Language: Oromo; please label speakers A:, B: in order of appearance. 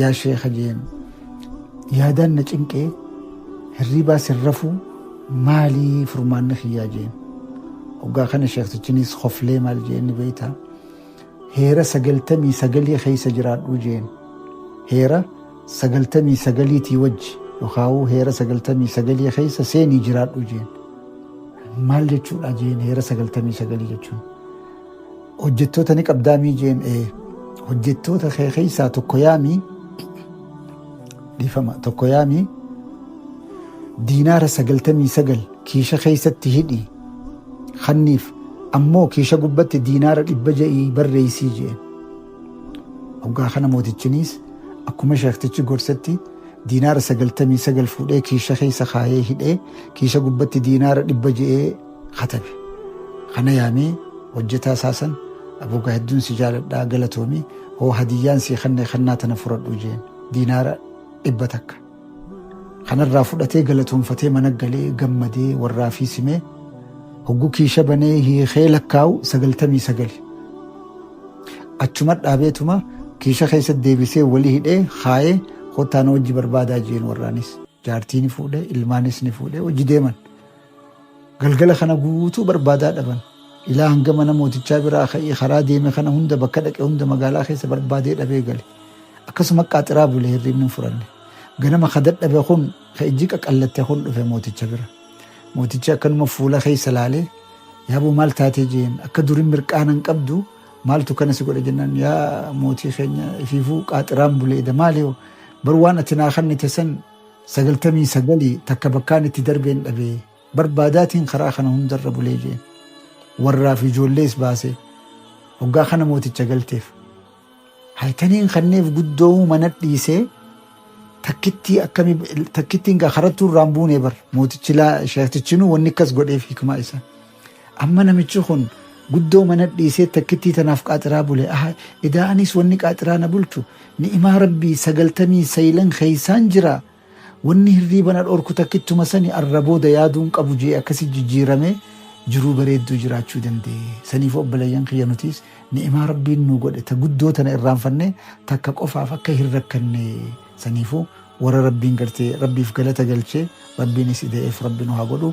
A: Yaa sheeka jeen yaadaan na cinqee hirriibaa sin rafuu maalii furmaanni kiyyaa jeen. Hoggaa kana sheektichinis koflee maal jeen ni beeyta. Heera sagaltamii sagalii keessa jiraadhuu jeen. Heera sagaltamii sagaliitii wajji yookaawuu heera sagaltamii sagalii keessa seenii jiraadhuu jeen. Maal jechuudha jeen heera sagaltamii sagalii jechuun. Hojjettoota ni qabdaa mii jeen ee hojjettoota kee keessaa tokko yaamii dhiifama tokko yaamii diinaara sagaltamii sagal kiisha keessatti hidhii kanniif ammoo kiisha gubbatti diinaara dhibba ja'ii barreessii jeen. Hoggaa kana mootichiniis akkuma sheektichi gorsetti diinaara sagaltamii sagal fuudhee kiisha keessa kaayee hidhee kiisha gubbatti diinaara dhibba ja'ee katabe. Kana yaamee hojjetaa isaa san Abuu gaa hedduun si jaaladhaa galatoomi hoo hadiyyaan sii kanne kannaa tana furadhu jeen diinaara dhibba takka. Kanarraa fudhatee galatoonfatee mana galee gammadee warraa fi simee hogguu kiisha banee hiikee lakkaa'u sagaltamii sagali. Achuma dhaabeetuma kiisha keessa deebisee wali hidhee kaayee kottaa na wajji barbaadaa jeen warraanis. Jaartii ni fuudhe ilmaanis ni fuudhe hojii deeman. Galgala kana guutuu barbaadaa dhaban. Ilaa hanga mana mootichaa biraa ka'ee karaa deeme kana hunda bakka dhaqe hunda magaalaa keessa barbaadee dhabee gale. Akkasuma qaaxiraa bule hirriibni hin furanne. Ganama ka dadhabe kun ka ijji qaqallatte kun dhufe mooticha bira. Mootichi akkanuma fuula keessa laalee yaaboo maal taatee jeen akka durin mirqaana hin qabdu maaltu kana si godhe jennaan yaa mootii keenya ifiifuu qaaxiraan buleeda maali hoo bar waan ati naa kannite san sagaltamii sagali takka bakkaan itti darbeen dhabe barbaadaatiin karaa kana hundarra bulee jeen warraa fi ijoollees baase hoggaa kana mooticha galteef haytaniin kanneef guddoo mana dhiisee takkittii akkami takkittiin gaa karattuu irraan buunee bar mootichi laa sheektichinuu wanni akkas godheef hikmaa isaa Amma namichi kun guddoo mana dhiisee takkittii tanaaf qaaxiraa bule. Aha, edaa anis wanni qaaxiraa na bulchu ni'imaa rabbii sagaltamii saylan keeysaan jira. Wanni hirriiba na dhorku takkittuma sani arra booda yaaduun qabu jee akkasi jijjiiramee jiruu bareedduu jiraachuu danda'e. Saniif obboleeyyan kiyya nutiis ni'imaa rabbiin nuu godhe ta guddoo tana irraanfannee takka qofaaf akka hin rakkanne saniifuu warra rabbiin gartee rabbiif galata galchee rabbiinis ida'eef rabbi nu haa godhu.